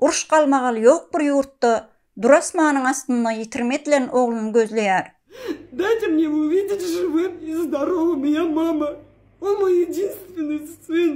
Uruş-galmagal ýok bir ýurtda, Durasmanyň astynda ýitirim edilen ogluny gözleýär. Dajam ne uwidit žywym i zdorowym ýa mama, o moý ýedinstweniý syn.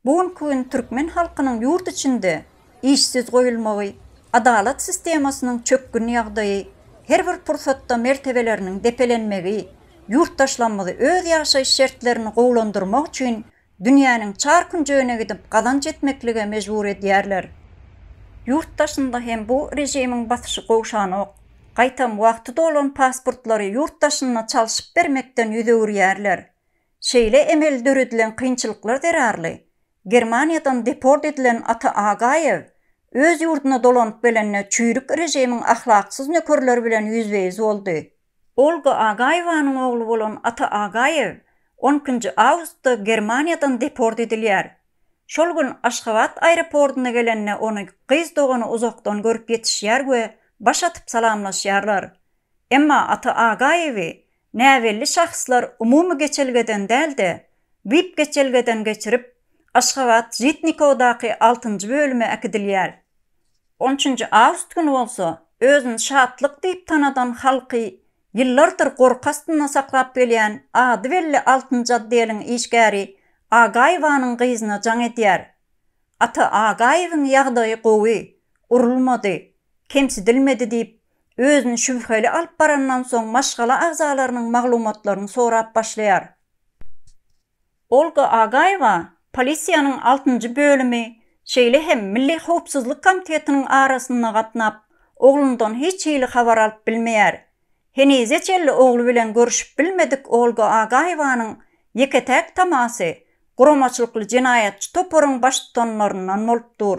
Bu günki gün türkmen halkynyň ýurt içinde işsiz goýulmagy, adalat sistemasynyň çökgün ýagdaýy, her bir pursatda mertebeleriniň depelenmegi ýurtdaşlamyzy öz ýaşaýyş şertlerini gowulandyrmak üçin dünýäniň çar künjegine gidip gazanç etmeklige mejbur edýärler. Ýurt daşynda hem bu režimiň basyşy gowşanok. Gaýtam wagty dolan pasportlary ýurt daşynda çalşyp bermekden ýüz öwürýärler. Şeýle emeli döredilen kynçylyklar zerarly Germaniýadan deport edilen Ata Agaýew öz ýurduna dolanyp gelende çüýrük režimiň ahlaksyz nökerleri bilen ýüzbe-ýüz boldy. Olga Agaýewanyň ogly bolan Ata Agaýew on ikinji awgustda Germaniýadan deport edilýär. Şol gün Aşgabat aeropordyna gelende ony gyz dogany uzakdan görüp ýetişýär we baş atyp salamlaşýarlar. Emma Ata Agaýewi näbelli şahslar umumy geçelgeden däl-de, vip geçelgeden geçirip, Aşgabat Žitnikodaky altynjy bölüme äkidilýär. On üçünji awgust güni bolsa, özüni Şatlyk diýip tanadan halky ýyllardyr gorky astynda saklap gelýän ady belli altynjy otdeliň işgäri Agaýewanyň gyzyna jaň edýär. Ata Agaýewiň ýagdaýy gowy, urulmady, kemsidilmedi diýip, özüni şübheli alyp barandan soň maşgala agzalarynyň maglumatlaryny sorap başlaýar. Olga Agaýewa polisiýanyň altynjy bölümi, şeýle hem Milli howpsuzlyk komitetiniň arasynda gatnap, oglundan hiç hili habar alyp bilmeýär. Henize çenli ogly bilen görüşip bilmedik Olga Agaýewanyň ýeke-täk tamasy guramaçylykly jenaýatçy toparyň baştutanlaryndan bolup dur.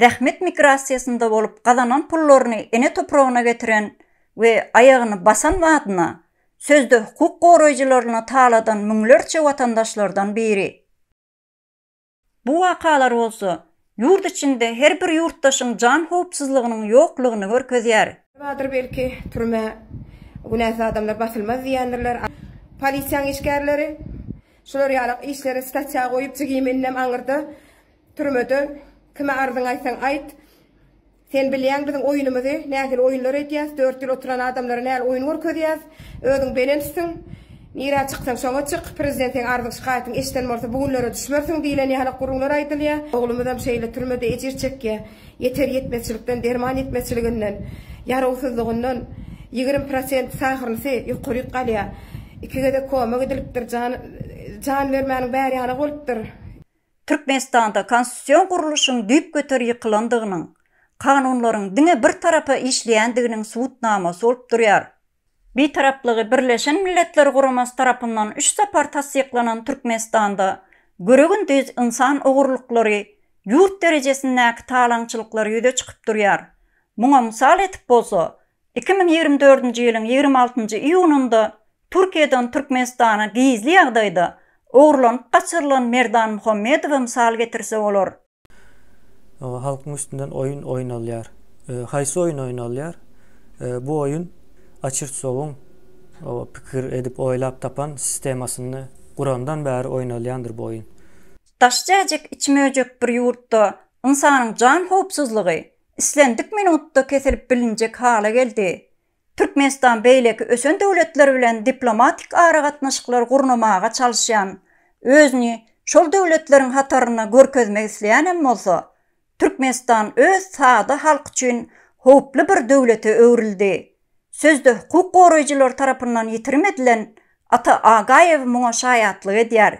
zähmet migrasiýasynda bolup gazanan pullaryny ene topragyna getiren we aýagyny basan badyna sözde hukuk goraýjylaryna taladan müňlerçe watandaşlardan biri. Bu wakalar bolsa, ýurt içinde her bir ýurtdaşyň jan howpsuzlygynyň ýoklugyny görkezýär. Bardyr belki, türmä günäsiz adamlar basylmaz diýendirler. Polisiýaň işgärleri şular ýalak işleri statýa goýup jigiminden aňyrda Türmede kime arzyňy aýtsaň aýt. Sen bilýäň biziň oýunymyzy, nähili oýunlar edýäs, dört ýyl oturan adamlara näl oýun görkezýäs. Özüň belençsiň. Nirä çyksaň şoňa çyk. Prezident seň arzyň-şikaýatyňy eşden bolsa bu günlere düşmersiň diýlen ýaly gürrüňler aýdylýar. Oglumyzam şeýle türmede ejir çekýär. Ýeter ýetmezçilikden, derman ýetmezçiliginden, ýarawsyzlygyndan ýigrimi prosent sahrnysy ýokaryk galýar. Iki gezek koma gidilipdir. Jan bermäniň bäri ýanak bolupdyr. Türkmenistanda konstitusion gurluşyň düýpgöter ýykylandygynyň, kanunlaryň diňe bir tarapa işleýändiginiň subutnamasy bolup durýar. Bitaraplygy Birleşen Milletler Guramasy tarapyndan üç sapar tassyklanan Türkmenistanda görä-gündiz ynsan ogurlyklary, ýurt derejesindäki talaňçylyklar ýüze çykyp durýar. Muňa mysal etip bolsa, Iki müň ýigrimi dördünji ýylyň ýigrimi altynjy iýunynda Türkiýeden Türkmenistana gizli ýagdaýda ogurlanyp gaçyrylan Merdan Muhammedowa mysal getirse bolar. Halkyň üstünden oýun oýnalýar. Haýsy oýun oýnalýar? Bu oýun Açirtsowyň pikir edip oýlap tapan sistemasyny gurandan bäri oýnalýandyr bu oýun. Daş jäjek iç möjek bir ýurtda ynsanyň jan howpsuzlygy, islendik minutda kesilip bilinjek hala geldi. Türkmenistan beýleki ösen döwletler bilen diplomatik aragatnaşyklar gurnamaga çalyşýan, özüni şol döwletleriň hatarynda görkezmek isleýänem bolsa, Türkmenistan öz sada halk üçin howply bir döwlete öwrüldi. Sözde hukuk goraýjylar tarapyndan ýitirim edilen Ata Agaýew muňa şaýatlyk edýär.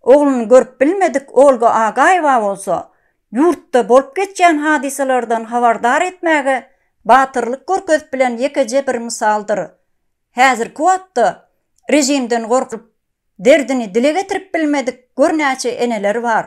Ogluny görüp bilmedik Olga Agaýewa bolsa, ýurtda bolup geçýän hadysalardan habardar etmäge batyrlyk görkezip bilen ýekeje bir mysaldyr. Häzirki wagtda režimden gorkup, derdini dile getirip bilmedik gör näçe eneler bar.